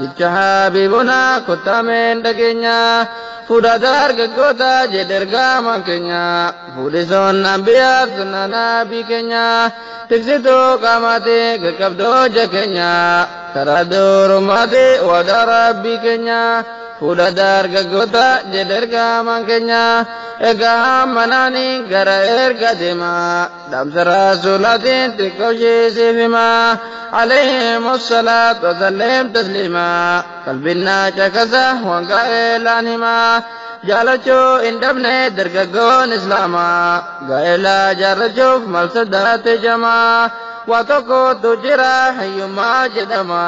Jecha Habiibonaa kottaa meen dhageenyaa Fuudha dargaggootaa jedhe ergaamaan keenyaa Fuudhisoon anbiyaa sunnaa nabii keenyaa Tiksituu qaamaatii qaqqabdoo hojja keenyaa Karaa durummaatii waadaa rabbii keenyaa Fuudha dargaggootaa jedhe ergaamaan keenyaa Egaa hammanaanii gara erga deemaa Dhamsa rasuulatiin xiqqoo ishee siif himaa Alayhimu salaatu wasallim tasliimaa Qalbiin naa caqasa waan gaa'elaan himaa Jaalachuu hin dhabne dargaggoon islaamaa Gaa'elaa jaarrachuuf mal sodaate jamaa Waa tokkotu jira hiyyummaa jedhama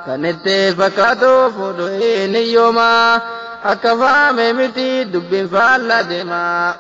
Kan itti fakkaatu fuudhu hin hiyyoomaa Akka faame miti dubbiin faallaa deema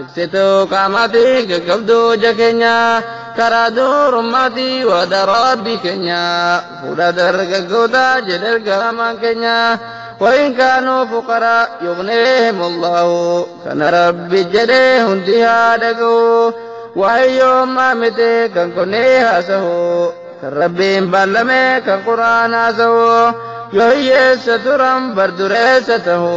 Ibsituu qaamaatii qaqqabduu ija keenya karaa durummaatii waada rabbi keenya fuudha dargaggoota jedhe ergamaan keenya wayin kaanuu fuqaraa yugneehim allahu kana rabbi jedhe hundi haa dhaga'u waa'ee yoommaa miti kan kunnee haasahu kan rabbiin ballame kan quraan haasahu yoo hiyyeessa turan bardureessa tahu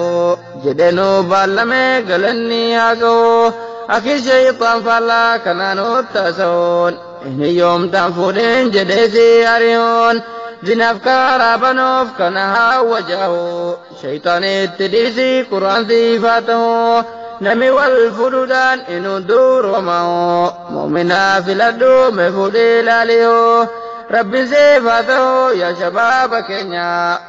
jedhee nuu baallame galanni haa ga'u akki sheeyxaan faallaa kanaa nutti haasa'uun hin hiyyoomtaan fuudhin jedhee si ari'uun zinaaf karaa banuuf kana haa wajaa'u sheeyxaan itti dhiisi quraan siif haa ta'u nami wal fuudhuudhaan hin hunduurooma'u mu'minaa filadhu mee fuudhii laali'u rabbiin siif haa ta'u yaa shabaaba keenya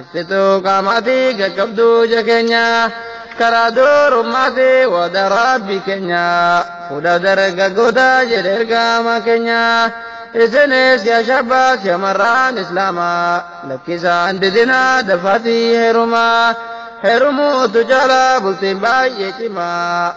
Ibsituu qaamaatii qaqqabduu ija keenya karaa durummaatii wada rabbi keenya fuudha dargaggoota jedhe ergama keenya isinis yaa shabbaas shamarraan islaama lakkisaan didinaa dafaatii heerumaa heerumuutu caalaa bultiin baay'ee cimaa.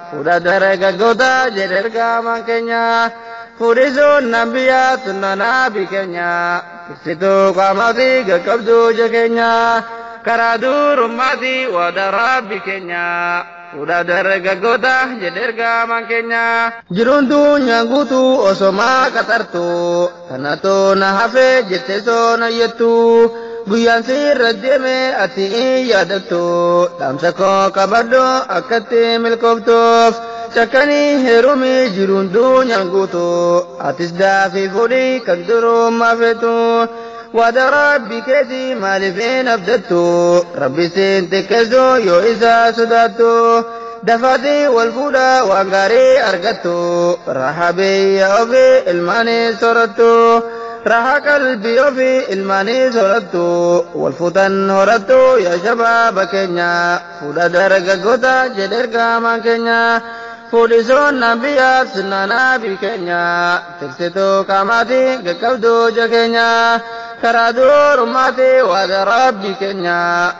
Fuudha dargaggoota jedhe ergaamaan keenya fuudhisuun nan biyyaa sunnanaa bi keenya ibsituu qaamaa fi qaqqabduu ija keenya karaa duurummaati waada rabbi keenya fuudha dargaggoota jedhe ergaamaan keenya jiruun duunyaan guutuu osomaa qaxartuu Kanatoo na hafee jette soo na yettu guyyaan siirra deeme ati hin yaadattu dhaamsa koo qabadhu akkatti milkooftuuf cakkanii heerumii jiruun duunyaan guutu atis daafii fudhii kan durummaa feetu waada rabbi keeti maaliif hin abdattu rabbi siin xiqqeessu yoo isaa sodaattu dafaatii wal fuudhaa waan gaarii argattu raha biyya ofii ilmaanii sorattu raha qalbii ofii ilmaanii sorattu wal fuutan horattu yaa shabaaba keenya fuudha dargaggoota jedhe ergaamaan keenya fuudhi soonna biyyaa sunnaa naabii keenya tiksituu qaamaatii qaqqabduu ja keenya karaa duurummaatii waada rabbii keenya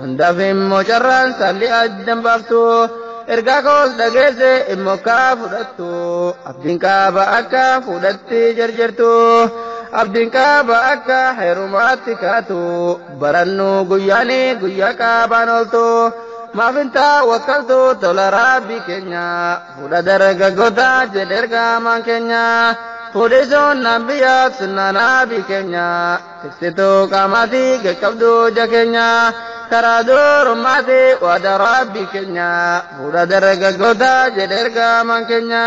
Hundaaf immoo carraan saalli addan baaftu ergaa koos dhageesse immoo kaa fudhattu abdiin qaaba akka fuudhatti jarjartu abdiin qaaba akka heerumaatti kaatu barannu guyyaani guyyaa qaabaan ooltu maafin taa wakkaltu tola raabbii keenya fuudha dargaggoota jedhe ergaamaan keenya fuudhisuun naan biyyaaf sunnaa naabii keenya Ibsituu qaamaafi qaqqabduu ija keenya karaa duurummaati waada Rabbii keenya fuudha dargaggoota jedhe ergamaan keenya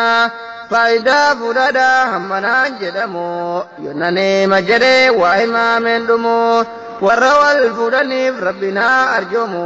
faayidaa fuudhaadha hammanaan jedhamu yonna nima jedhe waa himaameen dhumu warra wal fuudhaniif Rabbiin haa arjoomu